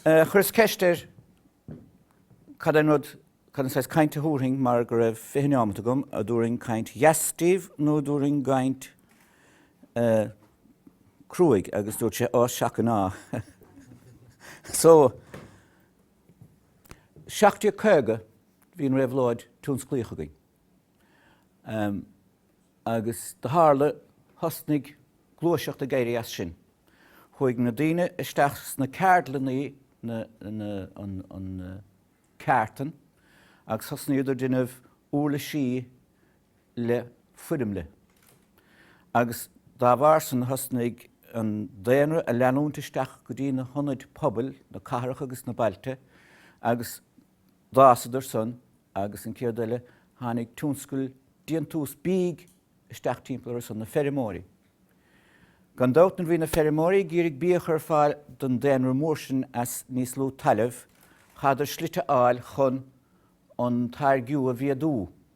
Chuireas ceist air cad é an rud, cad an saghas cainte a thabharfainn mar go raibh fiche neomat agam, an dtabharfainn caint dheas díbh nó an dtabharfainn caint cruaidh agus dúirt sé Á, seaca ná. So, 1750 bhí an réabhlóid tionsclaíoch againn. Agus do tharla, thosnaigh gluaiseacht ag éirí as sin. Chuaigh na daoine isteach sna ceardlannaí na, na, an, an, ceártan agus thosnaíodar déanamh úirlisí le foirmle. Agus dá bharr san thosnaigh an daonra ag leanúint isteach go dtí na hionaid pobail, na cathracha agus na bailte agus. d'fhásadar san agus an chéad eile tháinig tionscal déantús bídh isteach timpeall orthu san, na feirmeoirí. Gan dabht nuair bhí na feirmeoirí ag iarraidh bia a chur ar fáil don daonra mór sin as níos lú talamh chaitheadar slite a fháil chun an táirgiú a mhéadú.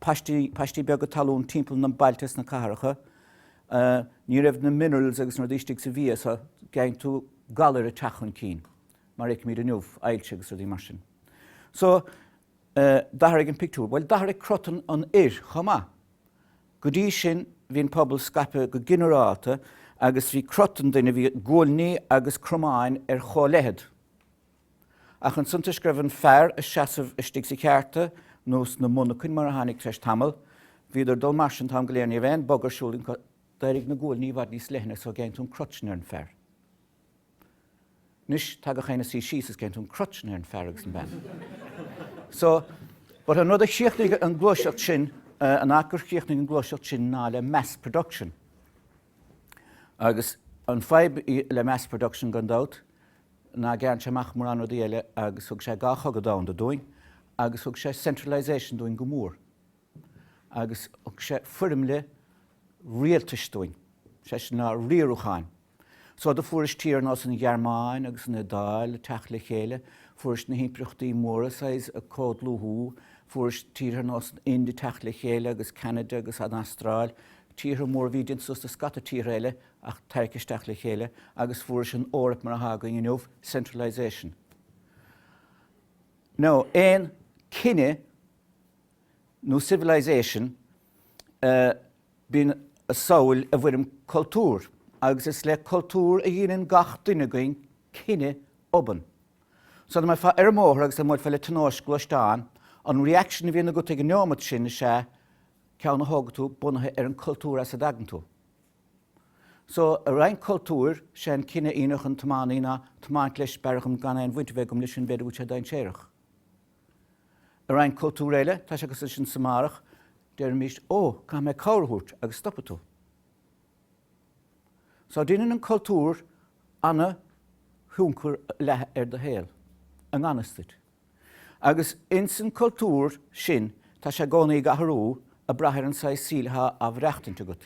paistí, paistí beaga talún timpeall na bailte is na cathracha. Ní raibh na minerals agus na rudaí istigh sa bhia so gheibheann tú galair ag teacht chun cinn mar a fheicimid inniu, ailse agus rudaí mar sin. So, d'athraigh an pictiúr. Bhuel, d'athraigh crot an fhir chomh maith. Go dtí sin bhí an pobal scaipthe go ginearálta agus bhí crot an duine, bhí guailní agus cromáin ar chomh leithead. Ach an suntas go raibh an fear ag seasamh istigh sa cheárta, nó sna monarchain mar a tháinig tar éis tamall. Bhíodar dul mar sin t-am go léir ní raibh aon bogadh ar siúl acu. D'éirigh na guailní i bhfad níos leithne so gheibheann tú an crot sin ar an fear. Anois tá gach éinne ag suí síos is gheibheann tú an crot sin ar an fear agus an bean. So but an rud a chríochnaigh an gluaiseacht sin, an áit gur chríochnaigh an gluaiseacht sin ná le mass production. Agus an fadhb le mass production gan dabht, ná gearrann sé amach mórán rudaí eile agus thug sé dhá chogadh domhanda dúinn agus thug sé centralisation dúinn go mór agus thug sé foirmle rialtais dúinn, sé sin ná riarúcháin. So do fuairis tír ar nós an Ghearmáin agus an Iodáil ag teacht le chéile, fuairis na himpireachtaí móra saghas ag comhdhlúthú, fuairis tíortha ar nós an Ind ag teacht le chéile agus Ceanada agus an Astráil, tíortha móra a bhí déanta suas le scata tíortha eile ach teacht isteach le chéile agus fuaireas an Eoraip mar atá againn inniu, centralisation. No, aon cine nó civilization bíonn a saol i bhfoirm cultúr agus is le cultúr a dhíneann gach duine againn cinneadh obann. So dá mbeifeá ar an mbóthar agus dá mbuailfeá le tionóisc gluaisteán, an reaction a bhíonn agat ag an neomat sin is ea ceann a thógann tú bunaithe ar an gcultúr as a dtagann tú. So i roinnt cultúr, sé an cinneadh a dhéanfadh an tiománaí ná tiomáint leis b'fhearr dhom gan aon bhaint a bheith agam leis sin, b'fhéidir go bhfuil sé dainséarach. I roinnt cultúr eile, tá sé agus sinne san áireamh, deirimis Ó, caithfidh mé cabhair a thabhairt agus stopfaidh tú. Só déanann an cultúr ana-thionchar leis ar do shaol, i ngan fhios duit. Agus ins an cultúr sin tá sé i gcónaí ag athrú ag brath ar an saghas saoil atá á mhaireachtaint agat.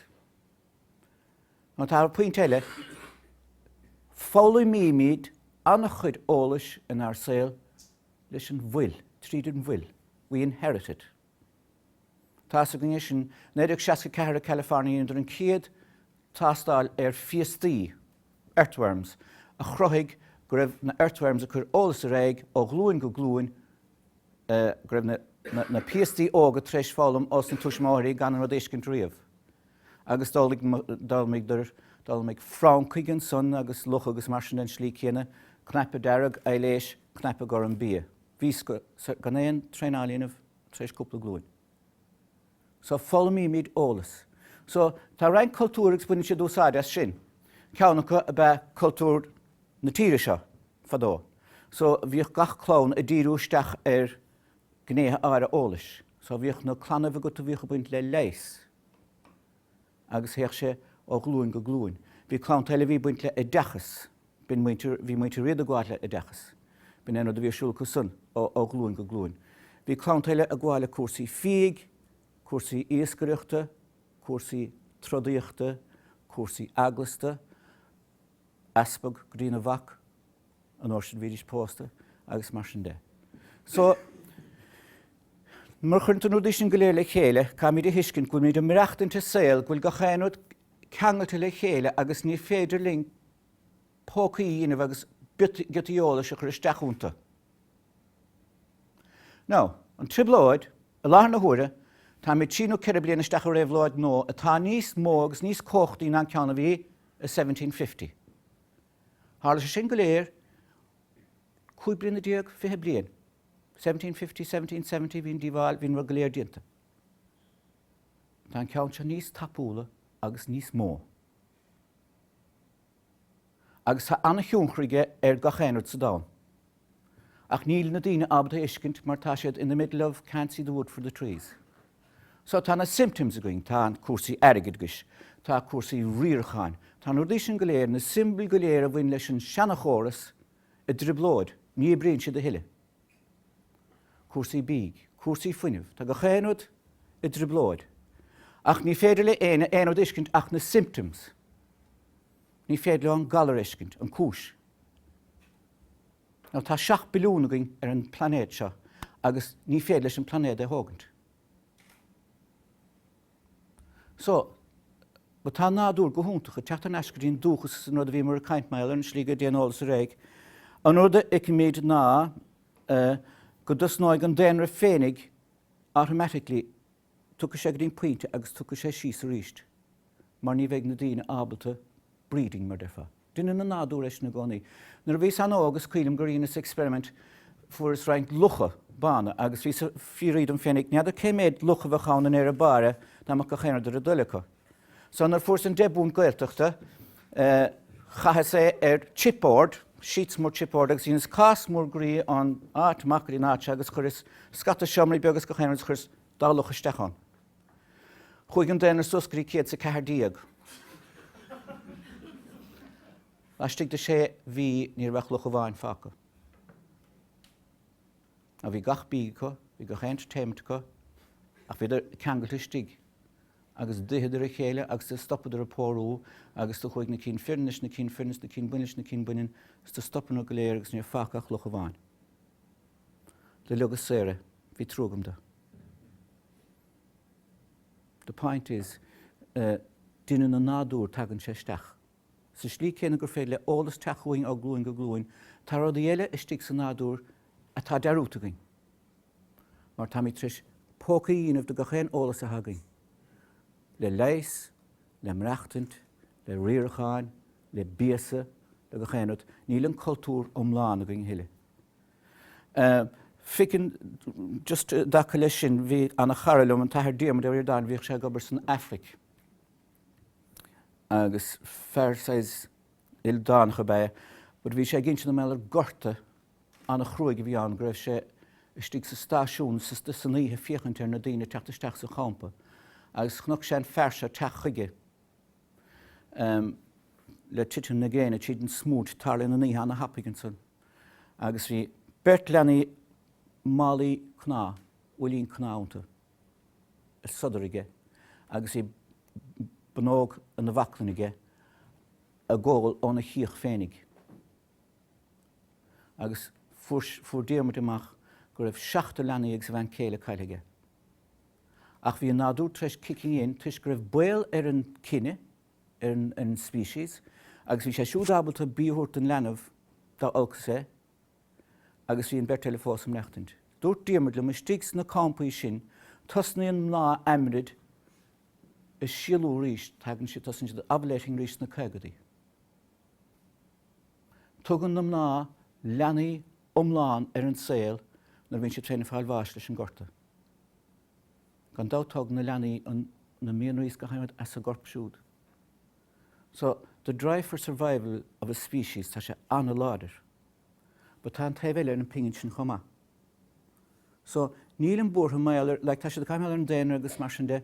Now, tá pointe eile, foghlaimímid an-chuid eolais inár saol leis an bhfuil, tríd an bhfuil, we inherit it. Thosaigh an ghné sin i 1964 i California deineadh an chéad tástáil ar phiastaí, earthworms, a chruthaigh go raibh na earthworms ag cur eolais ar aghaidh ó ghlúin go glúin go raibh na piastaí óga tar éis foghlaim ósna túismitheoirí gan an rud a fheiscint riamh. Agus d'fhoghlaim francaigh ansan agus lucha agus mar sin den tslí chéanna, cnaipe dearg, aibhléis, cnaipe gorm, bia. Bhí fhios acu gan aon traenáil a dhéanamh tar éis cúpla glúin. So foghlaimímid eolas. So tá roinnt cultúr agus baineann siad úsáid as sin. Ceann acu ab ea cultúr na tíre seo fadó. So bhíodh gach clann ag díriú isteach ar ghnéithe áirithe eolais. So bhíodh clann amháin agat a bhíodh ag baint le leigheas. agus théadh sé ó ghlúin go glúin. Bhí clann eile a bhí ag baint le oideachas. Bhí muintir Riada ag gabháil le oideachas. B'in é an rud a bhí ar siúl acu san, ó ghlúin go glúin. Bhí clann eile ag gabháil le cúrsaí fiaigh, cúrsaí iascaireachta, cúrsaí trodaíochta, cúrsaí eaglasta, easpag, go dtí a mhac, an uair sin bhídís pósta agus mar sin de. So, nuair a chuireann tú na rudaí sin go léir le chéile, caithfimid a thuiscint go bhfuilimid ag maireachtaint i saol go bhfuil gach aon rud ceangalta le chéile agus ní féidir linn pócaí a dhéanamh agus giotaí eolais a chur isteach iontu. Now, an trioblóid, i láthair na huaire, táimid trí nó ceithre bliana isteach i réabhlóid nua atá níos mó agus níos cumhachtaí ná an ceann a bhí i seventeen fifty. Tharla sé sin go léir cúig bliana déag, fiche bliain, 1750, 1770, bhí an díobháil, bhí an rud go léir déanta. Tá an ceann seo níos tapúla agus níos mó. Agus tá an-thionchar aige ar gach aon rud sa domhan. Ach níl na daoine ábalta a fheiscint mar tá siad in the middle of can't see the wood for the trees. So tá na symptoms againn, tá an cúrsaí airgid agus, tá cúrsaí riaracháin, tá na rudaí sin go léir, na siombail go léir a bhain leis an seanachóras i dtrioblóid, ní oibríonn siad a thuilleadh. Cúrsaí bídh, cúrsaí fuinnimh, tá gach aon rud i dtrioblóid. Ach ní féidir leo aon rud a fheiscint ach na symptoms. Ní féidir leo an galar a fheiscint, an cúis. Now tá seacht billiún againn ar an plainéad seo agus ní féidir leis an plainéad é a thógaint. So, but tá an nádúr go hiontach ag teacht thar n-ais go dtí an dúchas is an rud a bhíomar ag caint mar gheall ar an slí go dtéann eolas ar aghaidh. An rud a fheicimid ná eh go dtosnóidh an daonra féinig automatically Tiocfaidh sé go dtí an pointe agus tiocfaidh sé síos arís mar ní bheidh na daoine ábalta breeding mar deirfeá. Deineann an nádúr é sin i gcónaí. Nuair a bhíos an-óg is cuimhin liom gur dheineas experiment, fuaireas roinnt lucha bána agus bhíos a' fiafraí dom féinig n'fheadar cé méid luch a bheadh ann i ndeireadh báire dá mbeadh gach aon rud ar a dtoil acu. So nuair a fuaireas an deich bpunt Gaeltachta, chaitheas é ar chipboard, sheets mór chipboard, agus dheineas cás mór groí ann, áit, macallaí an áit seo, agus chuireas scata seomraí beaga is gach aon rud is chuireas dhá luch isteach ann. Chuaigh an daonra suas go dtí céad is a ceathair déag. Laistigh de sé mhí ní raibh ach luch amháin fágtha. Now bhí gach bia acu, bhí gach entertainment acu ach bhíodar ceangailte istigh agus d'itheadar a chéile agus do stopadar ag pórú agus do chuaigh na cinn fireann leis na cinn fireann is na cinn baineann leis na cinn baineann is do stopadar go léir agus níor fágadh ach luch amháin do leogas saor é. Bhí trua agam dó. The point is, eh, deineann an nádúr tagann sé isteach. sa slí céanna gur féidir le eolas teacht chugainn ó ghlúin go glúin, tá rudaí eile istigh sa nádúr atá dearúdta againn, mar táimid tar éis pócaí a dhéanamh de gach aon eolas atá againn, le leigheas, le maireachtaint, le riaracháin, le bíosa, le gach aon rud. Níl an cultúr iomlán againn a thuilleadh. Feiceann, just i dtaca leis sin, bhí ana chara liom, an tAthair Diarmuid Ó Ríordáin, bhíodh sé ag obair san Aifric, agus fear saghas ildánach ab ea é but bhí sé ag insint an mbeadh gorta an-chruaidh a bhí ann go raibh sé istigh sa stáisiún san oíche ag féachaint ar na daoine ag teacht isteach sa champa agus chonaic sé an fear seo teacht chuige le titim na gréine tríd an smúit tarlaíonn na nithe an-tapaidh ansan agus bhí beirt leanaí málaí cnámh uillinn cnámh iontu ar sodar aige agus bhí bunóc ina bhaclainn aige ag ól óna chíoch féinig. Agus fuair, fuair Diarmuid amach go raibh seachtar leanaí agus a bhean céile caillte aige. Ach bhí an nádúr tar eis kicking in toisc go raibh baol ar an cine, ar an, ar an species, agus bhí sé siúd ábalta bia a thabhairt don leanbh dá olcas é, agus bhí an bheirt eile fós ag maireachtaint. Dúirt Diarmuid liom, Istigh sna campaí sin, tosnaíonn mná aimrid ag síolú arís, tagann siad, tosaíonn siad ag ovulating arís sna caogaidí. Tugann na mná leanaí iomlán ar an saol nuair a bhíonn siad féin ag fáil bháis leis an gorta. Gan dabht tógann na leanaí na mianraí is go háirithe as a gcorp siúd. So, the drive for survival of a species, tá sé an-láidir. But tá an taobh eile ar an phingin sin chomh maith. So, nílim buartha mar gheall ar, like, tá siad ag caint ar an daonra agus mar sin de,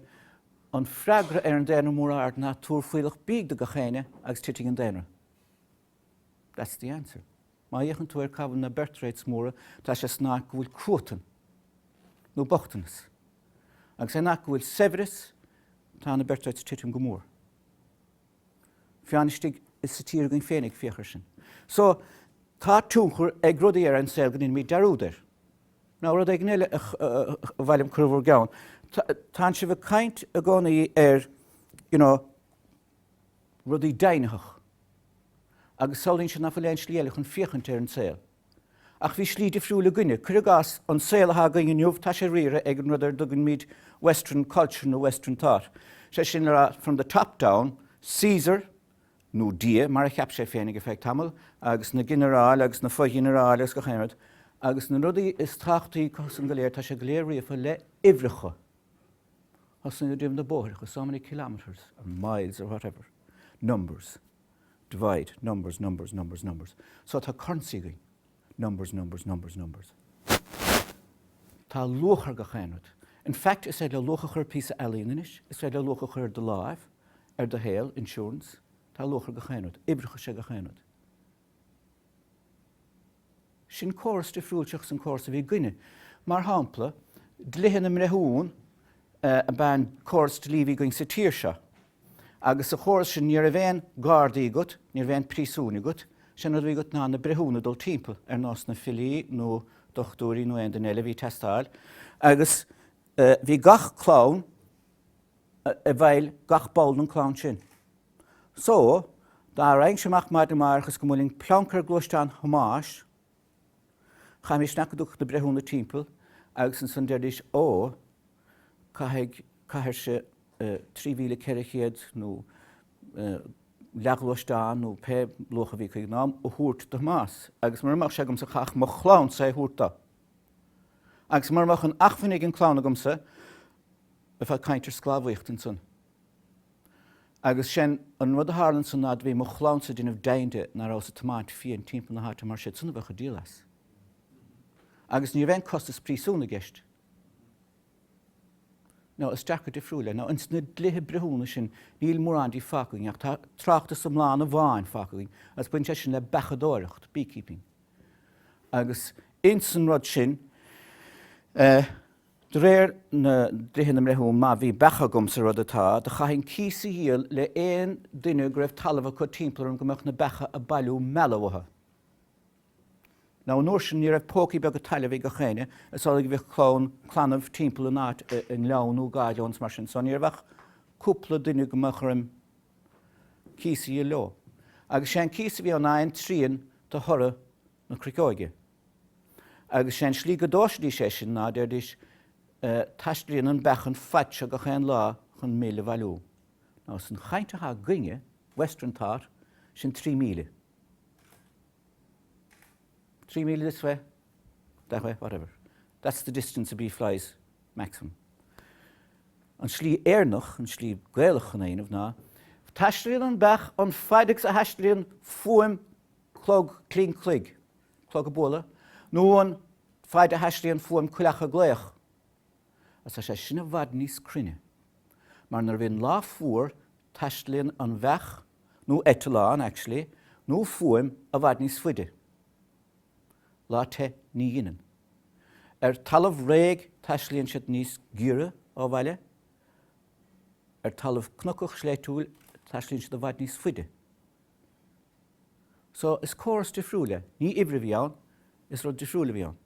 an freagra ar an daonra mór ard ná tabhair fuílleach bídh do gach éinne agus titfidh an daonra. That's the answer. Má fhéachann tú ar cá bhfuil na birth rates móra, tá sé san áit go bhfuil cruatan nó bochtanas. Agus an áit go bhfuil saibhreas, tá na birth rates ag titim go mór. Fiú amháin istigh sa tír againn féinig féach air sin. So, tá tionchar ag rudaí ar an saol go ndeinimid dearúd air. Now, rud éigin eile ba mhaith liom cur i bhur gceann, tánn sibh ag caint i gcónaí ar, you know, rudaí deimhnitheach agus samhlaíonn siad nach bhfuil aon slí eile chun féachaint ar an saol. Ach bhí slí difriúil againne. Cuir i gcás, an saol atá againn inniu, tá sé riartha ag an rud ar a dtugaimid Western Culture nó Western Thought, sé sin le rá, from the top down, Caesar, nó Dia mar a cheap sé féinig ar feadh tamaill, agus na ginearáil agus na fo-ghinearáil agus gach aon rud. Agus na rudaí is tábhachtaí acu san go léir, tá sé go léir ríofa le uimhreacha. Tosnaíonn na bóithreacha, so many kilometres or miles or whatever, numbers, divide, numbers, numbers, numbers, numbers. So tá currency againn, numbers, numbers, numbers, numbers. Tá luach ar gach aon rud. In fact, is féidir leat luach a chur ar phíosa ealaíne anois, is féidir leat luach a chur ar do láimh, ar do shaol, insurance. Tá luach ar gach aon rud. Uimhreacha is ea gach aon rud. Sin córas difriúil seachas an córas a bhí againne. Mar shampla, dlíthe na mbreithiún ab ea an córas dlí a bhí againn sa tír seo. Agus sa chóras sin ní raibh aon gardaí agat, ní raibh aon phríosúin agat, sin a bhí agat ná na breithiúna ag dul timpeall, ar nós na filí nó dochtúirí nó aon duine eile a bhí ag teastáil. Agus bhí gach clann i bhfeighil gach ball den chlann sin. So, dá raghainnse amach maidin amárach is go mbuailfinn pleanc ar ghluaisteán Thomáis, chaithfimis seasamh go dtiocfadh na breithiúna timpeall agus ansan deiridís Ó, caithfidh, caithfirse trí mhíle ceithre chéad nó leathghluaisteán nó pé luach a bhí acu ag an am, a thabhairt do Thomás agus mura mbeadh sé agamsa chaithfeadh mo chlannsa é a thabhairt do. Agus mura mbeadh an acmhainn ag an chlann agamsa, bheifeá ag caint ar sclábhaíocht ansan. Agus sin an rud a tharla ansan ná bhí mo chlannsa ag déanamh deimhin de ná rabhas ag tiomáint fiain timpeall na háite mar siadsan a bheadh ag díol as. Agus ní raibh aon costas príosún i gceist. Now is dearcadh difriúil é. Now ins na dlíthe breithiúna sin níl mórán díobh fágtha againn ach tá tráchtas iomlán amháin fágtha againn agus baineann sé sin le beachadóireacht, beekeeping. Agus ins an rud sin eh, De réir na dlíthe na mbreithiún má bhí beacha agam sa rud atá, do chaithfinn cíos a dhíol le aon duine go raibh talamh acu timpeall orm go mbeadh na beacha ag bailiú meala uathu. Now an uair sin ní raibh pócaí beaga talaimh ag gach éinne, is amhlaidh a bhíodh clann, clannaibh timpeall in áit i ngleann nó i gcaid nó ins mar sin so ní raibh ach cúpla duine go mbeadh orm cíos a dhíol leo. Agus sé an cíos a bhí ann ná aon trian de thoradh na cruiceoige. Agus sé an slí go dtomhaisidís é sin ná deiridís Taistlíonn an bheach an fhaid seo gach aon lá chun mil a bhailiú. Now san chaint atá againne, western thought, sin trí míle. Trí míle this way, that way, whatever. That's the distance a bee flies maximum. An slí Éireannach, an slí Gaelach chun é a dhéanamh ná Taistlíonn an bheach an fhaid agus a thaistlíonn fuaim clog cling cloig. clog ag bualadh nó an faid a thaistlíonn fuaim coileach ag glaoch, ach tá sé sin i bhfad níos cruinne mar nuair a bhíonn lá fuar taistlíonn an bheach nó eitleán, actually, nó fuaim i bhfad níos faide. Lá te ní dheineann. Ar talamh réidh taistlíonn siad níos giorra ó bhaile, ar talamh cnocach sléibhtiúil taistlíonn siad i bhfad níos faide. So is córas difriúil é. Ní oibre a bhí ann, is rud difriúil a bhí ann.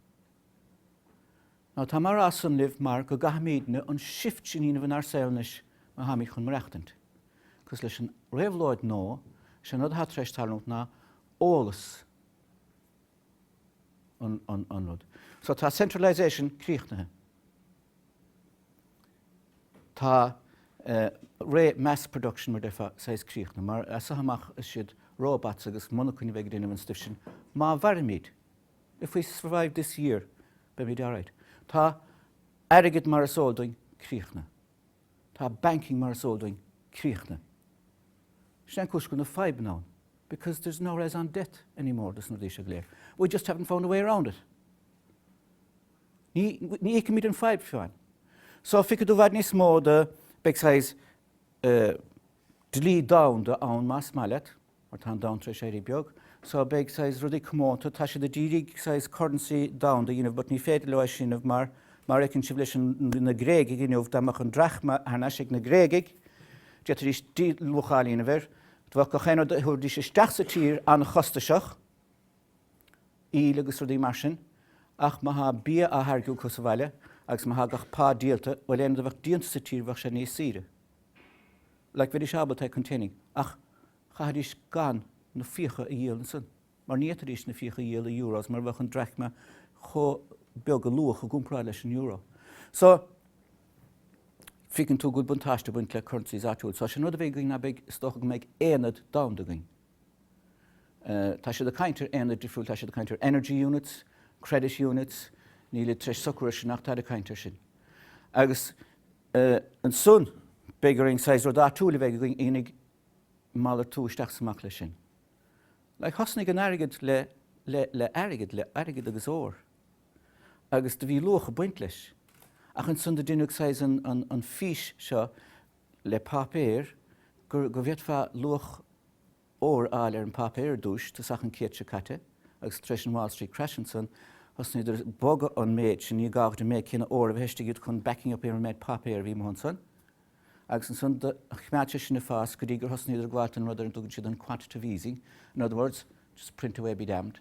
Now táim á rá san libh mar go gcaithfimid na an shift sin a dhéanamh inár saol anois má tháimid chun maireachtaint. 'Cause leis an réabhlóid nó is é an rud atá tar éis tarlúint ná eolas. an rud. So tá centralisation críochnaithe. Tá ré mass production mar déarfá saghas críochnaithe mar as seo amach is siad robots agus monarchain a bheidh ag déanamh an stuif sin. Má mhairimid, if we survive this year, beimid alright. Tá airgead mar is eol dúinn críochnaithe. Tá banking mar is eol dúinn críochnaithe. Sin é an cúis go bhfuil na fadhbanna ann because there's no raison d'être anymore dos na rudaí seo go léir. We just haven't found a way around it. Ní fheicimid an fadhb féin. So feicfidh tú i bhfad níos mó de beidh saghas dlí domhanda ann más maith leat. mar tá an domhan tar éis éirí beag so beidh saghas rudaí comónta, tá siad ag iarraidh saghas currency domhanda a dhéanamh but ní féidir leo é sin dhéanamh mar, mar fheiceann sibh leis an, na Gréagaigh inniu, dá mbeadh an drachma thar n-ais ag na Gréagaigh, d'fhéadfaidís díluacháil a dhéanamh air, bheadh gach aon rud a thabharfaidís isteach sa tír an-chostaiseach, íle agus rudaí mar sin ach má thá bia á tháirgiú acu sa bhaile agus má thá gach pá díolta, bhuel aon rud a bheadh déanta sa tír bheadh sé níos saoire. Like bheidís ábalta containing ach chaithfidís gan na fiacha a dhíol ansin mar ní fhéadfaidís na fiacha a dhíol i euros mar bheadh an drachma chomh beag a luach i gcomparáid leis an euro. So, feiceann tú go bhfuil buntáiste ag baint le currencies áitiúil. So, sin rud a bheidh againn ná beidh, is dócha go mbeidh aonad domhanda againn. Tá siad ag caint ar aonaid difriúil, tá siad ag caint ar energy units, credit units, nílid tar éis socrú air sin ach tá ag caint air sin. Agus e Ansan, beidh orainn saghas rud áitiúil a bheith againn fhéinig ag malartú isteach is amach leis sin. Like thosnaigh an airgead le, le, le airgead, le airgead agus ór. Agus do bhí luach ag baint leis. Ach ansan do deineadh saghas an, an, an fís seo le páipéar gur, go bhféadfá luach, ór a fháil ar an bpáipéar ar dtúis, tosach an céad seo caite, agus tar éis an Wall Street Crash ansan, thosnaíodar ag bogadh an méid sin, ní gádh duit an méid céanna ór a bheith istigh agat chun backing up ar an méid páipéar a bhí amuigh ansan, agus ansan do choimeád sé sin ag fás go dtí gur thosnaíodar ag gabháilt don rud ar a dtugann siad an quantitative easing, in other words, just print away be damned.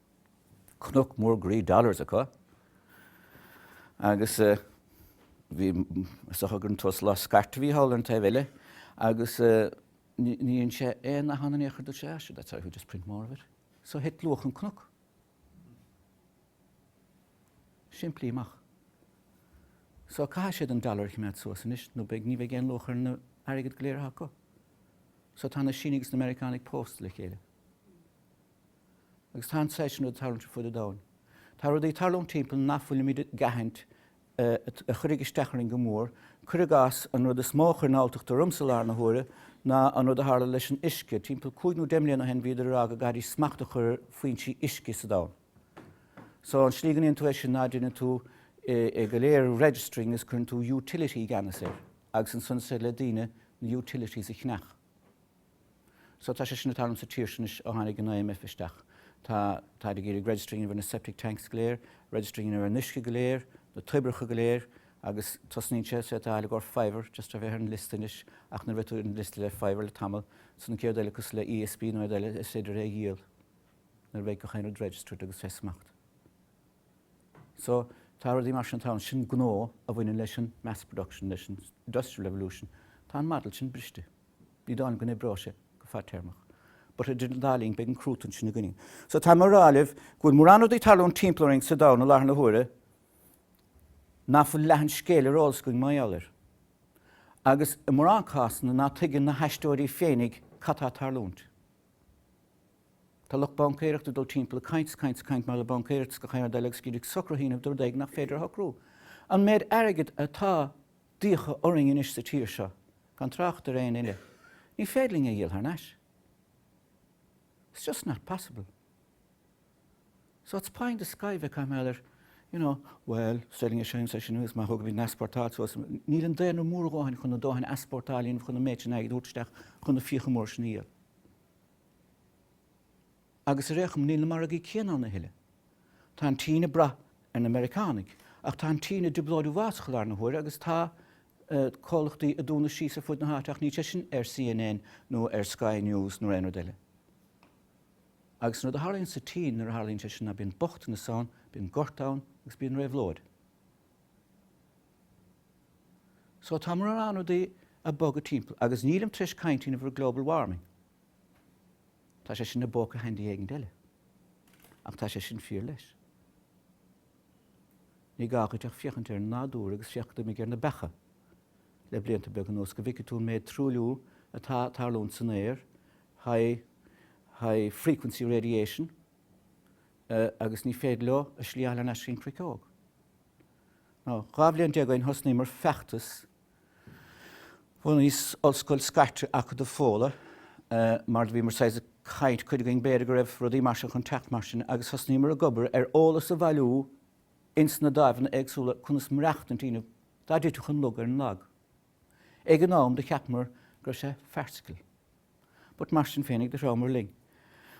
cnoc mór groí dollars acu agus bhí sochar gur an tus lá scairt a bhí thall ar an taobh eile agus ní dhein sé aon nath ann in aon chor dúirt sé ah seo that's how you just print more of it so thit luach an cnoc simplí amach so caithfidh siad an dollar a choimeád suas anois nó beidh ní bheidh aon luach ar an airgead go léir acu so tá na Sínigh agus na Meiriceánaigh pósta le chéile agus tá an saghas sin rud ag tarlúint ar fud an domhain. Tá rudaí ag tarlúint timpeall ná fuilimid ag aithint a chuirfidh isteach orainn go mór. Cuir i gcás, an rud is mó a chuireann alltacht ormsa i láthair na huaire ná an rud a tharla leis an uisce. Timpeall cúig nó deich mbliana ó shin bhíodar ag rá go gcaithfidís smacht a chur ar foinsí uisce sa domhan. So, an slí go ndéanann tú é sin ná deineann tú é go léir registering agus cuireann tú utility i gceannas air agus ansan is féidir le daoine na utilities a cheannach. So tá sé sin ag tarlúint sa tír sin anois ó tháinig an IMF isteach. Tá, táid ag iarraidh registering ar na septic tanks go léir, registering ar an uisce go léir, na toibreacha go léir agus tosnaíonn sé, say tá Allegor fiver just a bheith ar an liosta anois ach nuair a bheidh tú ar an liosta le fiver le tamall ansan gach aon rud eile cosúil le ESB nó aon rud eile is féidir é a dhíol nuair a bheidh gach aon rud registered agus fé smacht. So tá rudaí mar sin ag tarlúint, sin gnó a bhaineann leis an mass production, leis an industrial revolution, tá an model sin briste. ní dóigh liom go n-oibreoidh sé go fadtéarmach but idir an dá linn beidh an cruatan sin againn so táim á rá libh go bhfuil mórán rudaí ag tarlúint timpeall orainn sa domhan i láthair na huaire ná fuil leath an scéil ar eolas againn mar gheall air agus i mórán cásanna ná tuigeann na haisteoirí féinig cad tá ag tarlúint. Tá lucht baincéireachta ag dul timpeall ag caint is caint is caint mar le baincéireacht is gach aon rud eile agus iad ag socrú a dhéanamh de rud éigin nach féidir a shocrú. An méid airgead atá d'fhiacha orainn anois sa tír seo, gan trácht ar éinne eile, ní féidir linn a dhíol thar n-ais. It's just not possible. So it's pie in the sky a bheith ag caint mar gheall ar you know, well, selling a shine, seisean, agus má thógaimid an easportáil suas, níl an daonra mór a dhóthain chun a dóthain easportáil a dhéanamh chun an méid sin airgid a thabhairt isteach chun na fiacha móra sin a dhíol. Agus ar aon chuma níl na margaí céanna ann a thuilleadh. Tá an tSín ag brath ar na Meiriceánaigh, ach tá an tSín i dtrioblóid uafásach i láthair na huaire agus tá comhlachtaí ag dúnadh síos ar fud na háite ach níl sé sin ar CNN nó ar Sky News nó ar aon rud eile. Agus an rud a tharlaíonn sa tSín nuair a tharlaíonn sé sin ná bíonn bochtanas ann, bíonn gorta ann agus bíonn réabhlóid. So tá mórán rudaí ag bogadh timpeall. Agus nílim tar éis caint in aon chor ar global warming. Tá sé sin i bpóca handy éigin eile. Ach tá sé sin fíor leis. Ní gá dhuit ach féachaint ar an nádúr agus féach cad d'imigh ar na beacha le blianta beaga anuas go bhfeicfidh tú an méid truailliú atá ag tarlúint san aer, high frequency radiation, agus ní féidir leo a slí a fháil thar n-ais go dtí an gcruiceog. Now, dhá bhliain déag ó shin thosnaíomar feachtas Bhunaíos ollscoil scairte, Acadamh Fódhla, mar do bhíomar saghas ag caint, cuid againn b'fhéidir go raibh rudaí mar seo chun teacht mar sin agus thosnaíomar ag obair ar eolas a bhailiú ins na dáimheanna éagsúla conas maireachtaint a dhéanamh, dá dtitfeadh an lug ar an lag. Ag an am do cheapamar go raibh sé farcical. But mar sin féinig, do Thrá Mhór linn.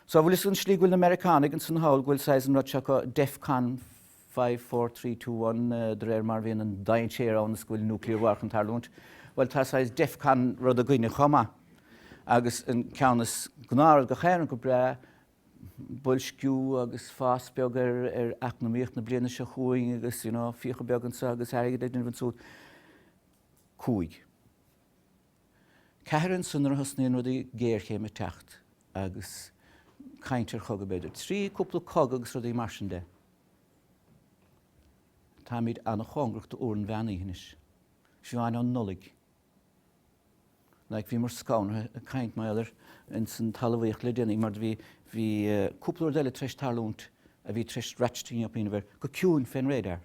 So, an bhfuil 'fhios a'd an slí go bhfuil na Meiriceánaigh ins an hall, go bhfuil saghas an rud seo acu Defcon five, four, three, two, one de réir mar a bhíonn an dainséar ann is go bhfuil nuclear war chun tarlúint. Bhuel, tá saghas Defcon rud againne chomh maith agus an ceann is gnáth go bhfuil gach éinne go breá boilsciú agus fás beag ar eacnamaíocht na bliana seo chugainn agus, you know, fiacha beag anseo agus airgead ag déanamh ansúd. Cúig. Ceathair ansan nuair a thosnaíonn rudaí géarchéim ag teacht agus caint ar chogadh b'fhéidir. Trí cúpla cogadh agus rudaí mar sin de táimid an-chóngarach do uair an mheán oíche anois. Siobhán, ó Nollaig. Like bhíomar scanraithe caint mar gheall ar ins an talamhaíocht le déanaí mar do bhí bhí cúpla rud eile tar éis tarlúint a bhí tar éis ratcheting up, abair, go ciúin fén radar.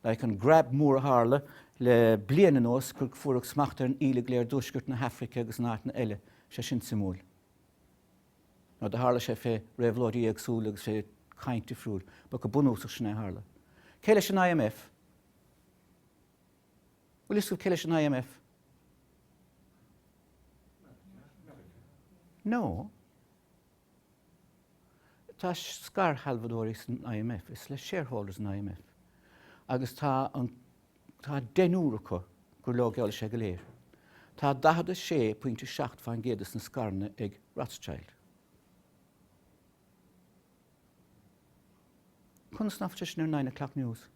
like an grab mór a tharla le bliain anuas gur fuaireadh smacht ar an íle go léir i dtuaisceart na hAfraice agus in áiteanna eile, sé sin suimiúil. Now do tharla sé fé réabhlóidí éagsúla agus fé chaint difriúil, but go bunúsach sin é a tharla. Cé leis an IMF? Bhfuil fhios agaibh cé leis an IMF? No. Tá scairshealbhadóirí san IMF, is le shareholders an IMF, agus tá an, tá deichniúr acu gur leo, gur leo é go léir. Tá 46 pointe 7 fán gcéad de sna scaireanna ag Rothschild. Conas nach bhfuil sé sin ar Nine O'Clock News?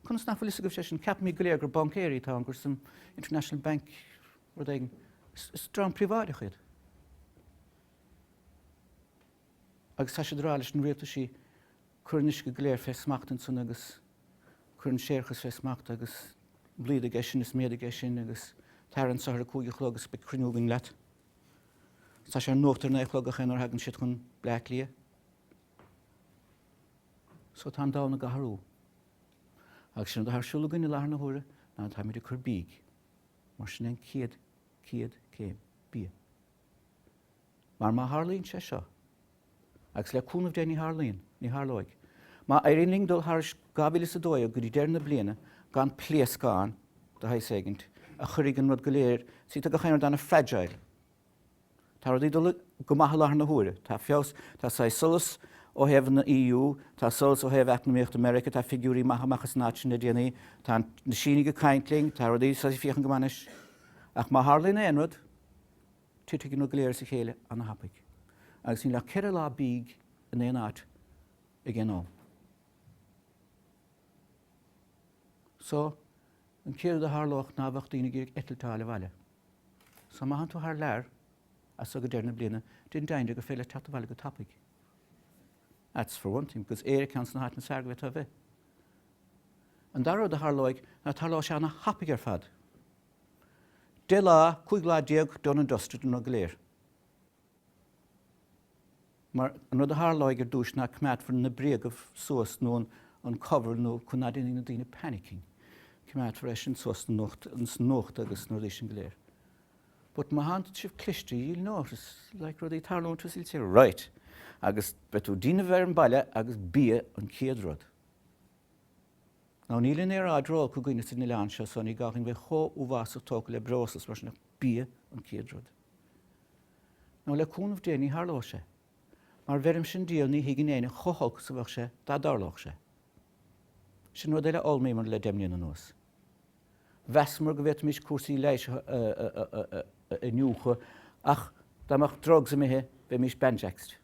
Conas nach bhfuil fhios agaibhse é sin? Ceapaimid go léir gur bancaerí atá ann, gur san International Bank rud éigin. Is dream príobháideach iad. Agus tá siad ag rá leis na rialtaisí cuir an uisce go léir fé smacht ansan agus cuir an séarachas fé smacht agus bliain aige sin is méad aige sin agus tair anso thar a cúig a chlog agus beidh cruinniú againn leat. Tá sé ar nuacht ar naoi a chlog ach nuair a thagann siad chun Bleá Cliath. So tá an domhan ag athrú. Agus sin atá ar siúl againn i láthair na huaire ná táimid ag cur bídh. Mar sin é an chéad, chéad céim, bia. Mar má tharlaíonn sé seo, agus le cúnamh Dé ní tharlaíonn, ní tharlóidh, má éiríonn linn dul thairis 2012 go dtí deireadh na bliana gan pléascán de shaghas éigin a chuirfidh an rud go léir, see tá gach aon rud ana-fragile. Tá rudaí ag dul go maith i láthair na huaire. Tá feabhas, tá saghas solas ó thaobh na EU, tá solas ó thaobh eacnamaíochta Meiriceá, tá figiúirí maithe ag teacht amach as an áit sin le déanaí, tá na Sínigh ag caint linn, tá rudaí saghas ag féachaint go maith anois. Ach má tharlaíonn aon rud, titfidh an rud go léir as a chéile an-tapaidh. Agus níl ach ceithre lá bídh in aon áit ag aon am. So, an céad rud a tharlódh ná bheadh daoine ag iarraidh eitilt a fháil abhaile. Só má thánn tú thar lear as seo go deireadh na bliana, déan deimhin de gur féidir leat teacht abhaile go tapaidh. That's for one thing, because Éire ceann des na háiteanna is fearr go bhféadfá a bheith. An dara rud a tharlóidh ná tarlóidh sé an-thapaidh ar fad. Deich lá, cúig lá déag done and dusted an rud go léir. Mar, an rud a tharlóidh ar dtúis ná coimeádfar na bréaga suas nó an cover nó chun nach mbeidh na daoine panicking. Coimeádfar é sin suas sna nuachta agus na rudaí sin go léir. But má thánn sibh cliste ye'll notice like rudaí ag tarlúint thuas all right agus beidh tú déanamh ar an mbaile agus bia an céad rud. Now níl an aeráid ró olc againn ins an oileán seo so ní gá againn bheith chomh uathbhásach tógtha le breosla is mar sin ach bia an céad rud. Nó le cúnamh Dé ní tharlóidh sé. Mar bheirimse Dia ní thuigeann éinne chomh holc is a bheadh sé dá dtarlódh sé. Sin rud eile a fhoghlaimíomar le deich mbliana anuas. Mheasamar go bhféadfaimís cúrsaí leighis a iniúchadh ach dá mbeadh drugs imithe bheimís banjaxed.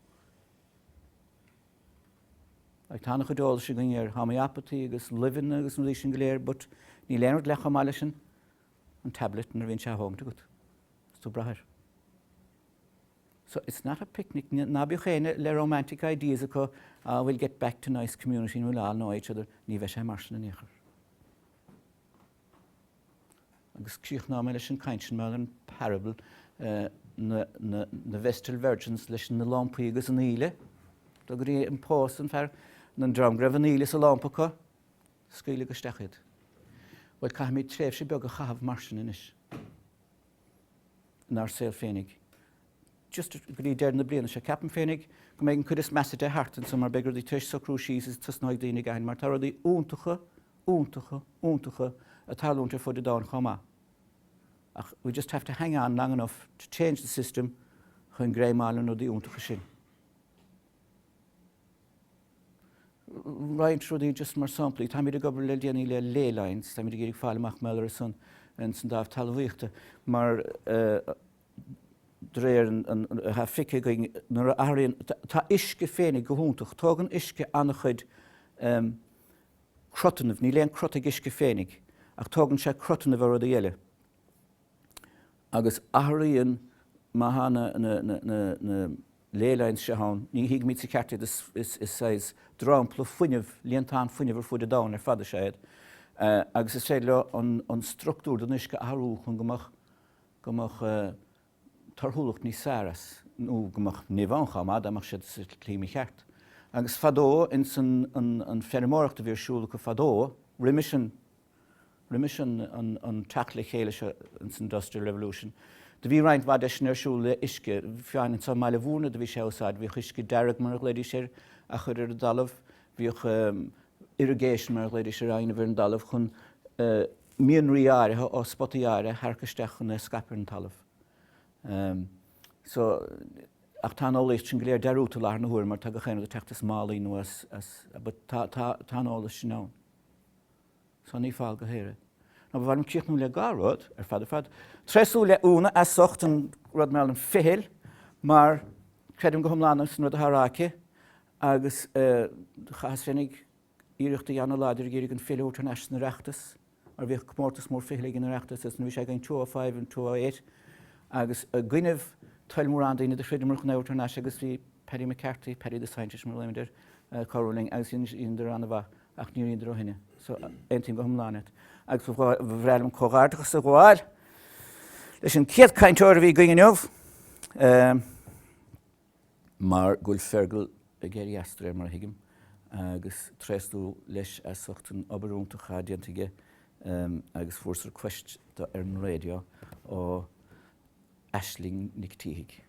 Ach tá an-chuid eolais againn ar homeopathy agus luibheanna agus na rudaí sin go léir but níl aon rud leath chomh maith leis an an tablet nuair a bhíonn sé á thógaint agat is tú ag brath air. So it's not a picnic, ná bíodh éinne le romantic ideas acu, ah we'll get back to nice community and we'll all know each other, ní bheidh sé mar sin in aon chor. Agus críochnóidh mé leis an gcaint sin mar an parable na Vestal Virgins leis na lampaí agus an íle, go dtí an pósadh an fear, an dream go raibh an íle sa lampa acu, Scaoileadh isteach iad. Bhuel, caithfimid tréimhse beag a chaitheamh mar sin anois inár saol féinig. Just go dtí deireadh na bliana seo. Ceapaim féinig go mbeidh an cuid is measa de thart anseo mar beidh rudaí tar éis socrú síos is tosnóidh daoine ag caint mar tá rudaí iontacha, iontacha, iontacha ag tarlúint ar fud an domhain chomh maith. Ach we just have to hang on long enough to change the system chun greim a fháil ar na rudaí iontacha sin. roinnt rudaí just mar samplaí. Táimid ag obair le déanaí le Ley Lines, táimid ag iarraidh fáil amach maidir le san san dámh talamhaíochta mar de réir an an atá feicthe againn nuair a athraíonn tá uisce féinig go hiontach, tógann uisce an-chuid cruthannaibh, níl aon cruth ag uisce féinig ach tógann sé cruthannaibh ó rudaí eile agus athraíonn má thá na na na na. Ley lines seo ann, Ní thuigimid sa cheart iad is saghas dromchla fuinnimh, líontán fuinnimh ar fuaid an domhain, ar fad is ea iad, agus is féidir leo an structúr den uisce a athrú chun go mbeadh go mbeadh torthúlacht níos fearr ann, nó go mbeadh nimh ann chomh maith dá mbeadh siad sa tslí mhícheart. Agus fadó, ins an feirmeoireacht a bhí ar siúl acu fadó, roimis an. Roimis an teacht le chéile seo san Industrial Revolution, do bhí roinnt mhaith de sin ar siúl le uisce, fiú amháin anseo i mBaile Mhúirne do bhí sé á úsáid, bhíodh uisce dearg mar a ghlaoidís air á chur ar an dtalamh, bhíodh irrigation mar a ghlaoidís air á dhéanamh ar an dtalamh chun mianraí áirithe ó spotaí áirithe a tharrac isteach chun é a scaip ar an talamh. So, ach tá an eolaíocht sin go léir dearúdta i láthair na huaire mar tá gach aon rud ag teacht as málaí nó as, but tá an eolas sin ann. So ní fál go haer é. Now ba mhaith liom críochnú le dhá rud ar fad ar fad. Treisiú le Úna as ucht an rud mar an fichill mar creidim go hiomlán san rud atá á rá aici agus chaitheas féinig iarracht a dhéanamh láidir ag iarraidh an fichill a thabhairt thar n-ais san Oireachtas mar bhíodh comórtas mór fichille ag an Oireachtas agus nuair a bhí sé againn two oh five and two oh eight agus i gcoinnibh toil mórán daoine do throideamar chun é a thabhairt thar n-ais agus bhí Paddy McCarthy, Paddy the Scientist mar a ghlaodhmaid air, cabhrú linn agus bhíodar an-mhaith. Ach níor dheineadar ó shin é. So, aontaím go hiomlán leat. Agus ba bhreá liom comhghairdeachas a ghabháil leis an chéad chainteoir a bhí againn inniu, mar go bhfuil Fergal ag éirí as, de réir mar a thuigim, agus tréaslú leis as ucht an obair iontach atá déanta aige. Agus fuaireas request dó ar an raidió ó. Aisling Nic Títhigh.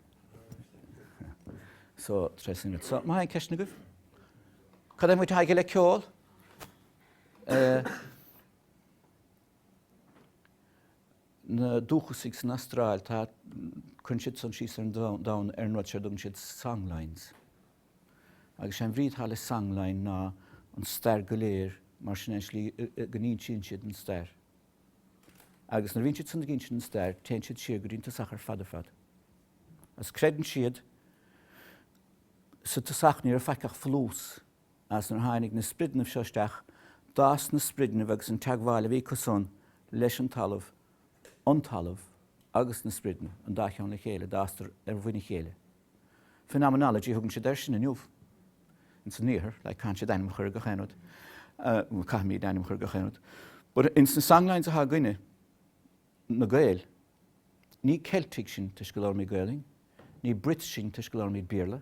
So tres minutos. So má tá aon cheisteanna agaibh, cad é an bhaint atá aige le ceol? Eh, na dúchasaigh san Astráil, tá, cuireann siad san síos ar an domhan, domhan ar an rud seo a dtugann siad songlines. Agus sé an bhrí atá le songline ná an stair go léir, mar sin é, slí, go n-insíonn siad an stair. Agus nuair a bhíonn siad san ag insint an stair, téann siad siar go dtí an tosach ar fad ar fad. Agus creideann siad sa tosach ní raibh faic ach folús. Agus nuair a tháinig na sprideannaibh seo isteach, d'fhás na sprideannaibh agus an teagmháil a bhí acu san leis an talamh, an talamh agus na sprideannaibh, an dá cheann le chéile, d'fhásadar ar mhuin a chéile. Phenomenology a thugann siad air sin inniu. Ins an Iarthar, like, caitheann siad ainm a chur ar gach aon rud. Bhuel, caithfimid ainm a chur ar gach aon rud. But ins na songlines atá againne, na Gaeil, ní Ceiltigh sinn toisc go labhraímid Gaoluinn, ní Brits sinn toisc go labhraímid Béarla,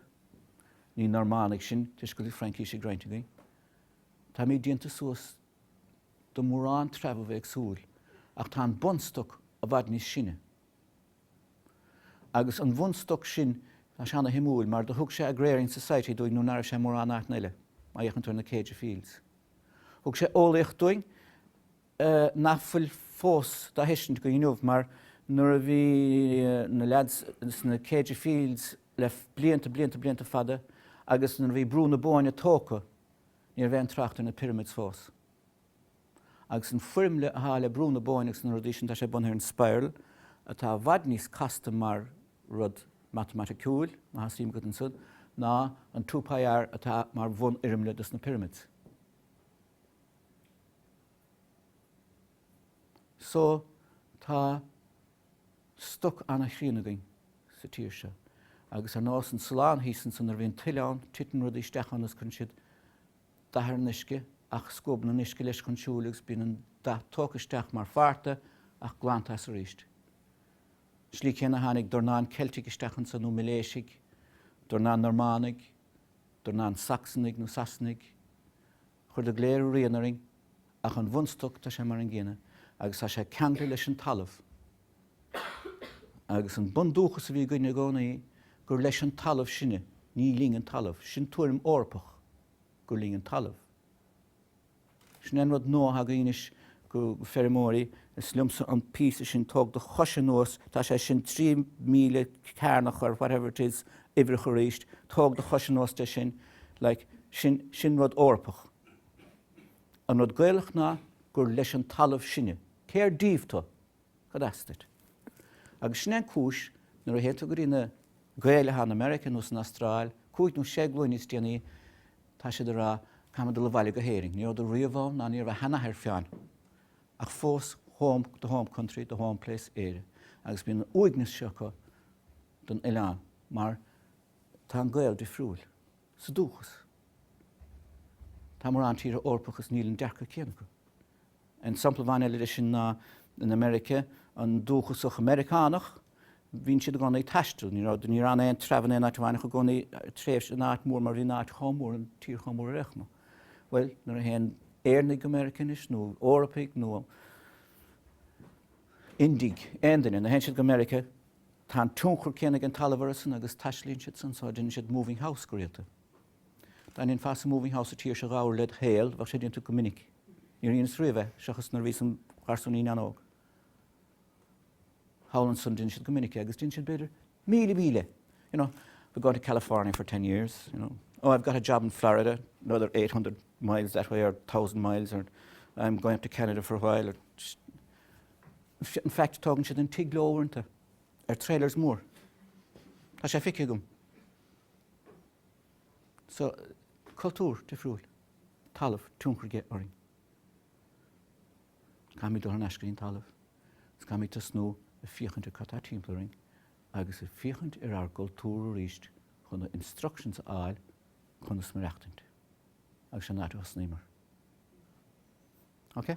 ní Normannaigh sinn toisc go bhfuil Fraincís ag roinnt againn. Táimid déanta suas de mórán treabha éagsúil ach tá an bun-stoc i bhfad níos sine. Agus an bhunstoc sin, tá sé ana-shuimiúil mar do thug sé Agrarian Society dúinn nuair ná raibh sé mórán áiteanna eile, má fhéachann tú ar na Céide Fields. Thug sé eolaíocht dúinn nach bhfuil fós dá thuiscint go dtí inniu mar nuair a bhí na leads sna Céide Fields le blianta, blianta, blianta fada agus nuair a bhí Brú na Bóinne tógtha, ní raibh aon trácht ar na Pyramids fós. Agus an foirmle atá le Brú na Bóinne agus na rudaí sin, tá sé bunaithe ar an spiral, atá i bhfad níos casta mar rud matamaiticiúil, má tá suim agat ansan, ná an Two Pi R atá mar bhunfhoirmle dos na pyramids. So, tá stoc an-chríon againn sa tír seo. Agus ar nós an Sulán thíos ansan, nuair a bhíonn tuile ann, titeann rudaí isteach ann agus cuireann siad dath ar an uisce ach scuabann an uisce leis chun siúil agus bíonn an dath tógtha isteach mar pháirt de ach glanta as arís. An slí céanna a tháinig dornán Ceiltigh isteach anso nó Miléisigh, dornán Normánaigh, dornán Sacsanaigh nó Sasanaigh. Chuireadar go léir a rian orainn ach an bhunstoc tá sé mar an gcéanna agus tá sé ceangailte leis an talamh. Agus an bundúchas a bhí againn i gcónaí, gur leis an talamh sinne, ní linn an talamh, sin tuairim Eorpach, gur linn an talamh. Sin é an rud nua againn anois go feirmeoirí, is liomsa an píosa sin, tóg do chois anuas, tá sé sin trí mhíle cearnach or whatever it is uimhreacha arís, tóg do chois anuas de sin, like, sin rud Eorpach. An rud Gaelach ná gur leis an talamh sinne. Cér díobh tú? Cad as duit? Agus sin é an cúis, nuair a théann tú go dtí na Gaeil atá in America nó san Astráil cúig nó sé glúin níos déanaí tá siad ag rá caithfidh mé dul abhaile go hÉirinn. Ní rabhadar riamh ann ná ní raibh a sheanathair fiú ann. Ach fós the home country, the home place, Éire. Agus bíonn an uaigneas seo acu don oileán mar tá an Gael difriúil. Sa dúchas. Tá mórán tíortha Eorpacha is níl an dearcadh céanna acu. An sampla amháin eile de sin ná in America, an dúchasach Meiriceánach, bíonn siad i gcónaí ag taisteal. Ní raibh, níor fhan aon treibh in aon áit amháin ach i gcónaí tréimhse in áit mór mar bhí an áit chomh mór, an tír chomh mór ar aon chuma. Bhuel, nuair a théann Éireannaigh go America anois nó Eorpaigh nó Indiaigh, aon duine, nuair a théann siad go America, tá an tionchar céanna ag an talamh orthusan agus taistealaíonn siadsan, so déanann siad moving house go rialta. Dá ndéanfása moving house sa tír seo dhá uair led shaol, bheadh sé déanta go minic. Níor dheineas riamh é, seachas nuair a bhíos im' gharsúinín an-óg. Thall ansan deineann siad go minic é, agus deineann siad b'fhéidir míle míle, you know, we're going to California for ten years, you know, oh I've got a job in Florida, another eight hundred miles that way or thousand miles or I'm going up to Canada for a while or just, in fact tógann siad an tigh leo uaireanta, ar trailers mór. Tá sé feicthe agam. sa cultúr difriúil talamh tionchar aici orainn. Caithfimid dul thar n-ais go dtí an talamh agus caithfimid tosnú ag féachaint ar cad tá timpeall orainn agus ag féachaint ar ár gcultúr arís chun na instructions a fháil conas maireachtaint agus sin an áit a thosnaímid. Ok?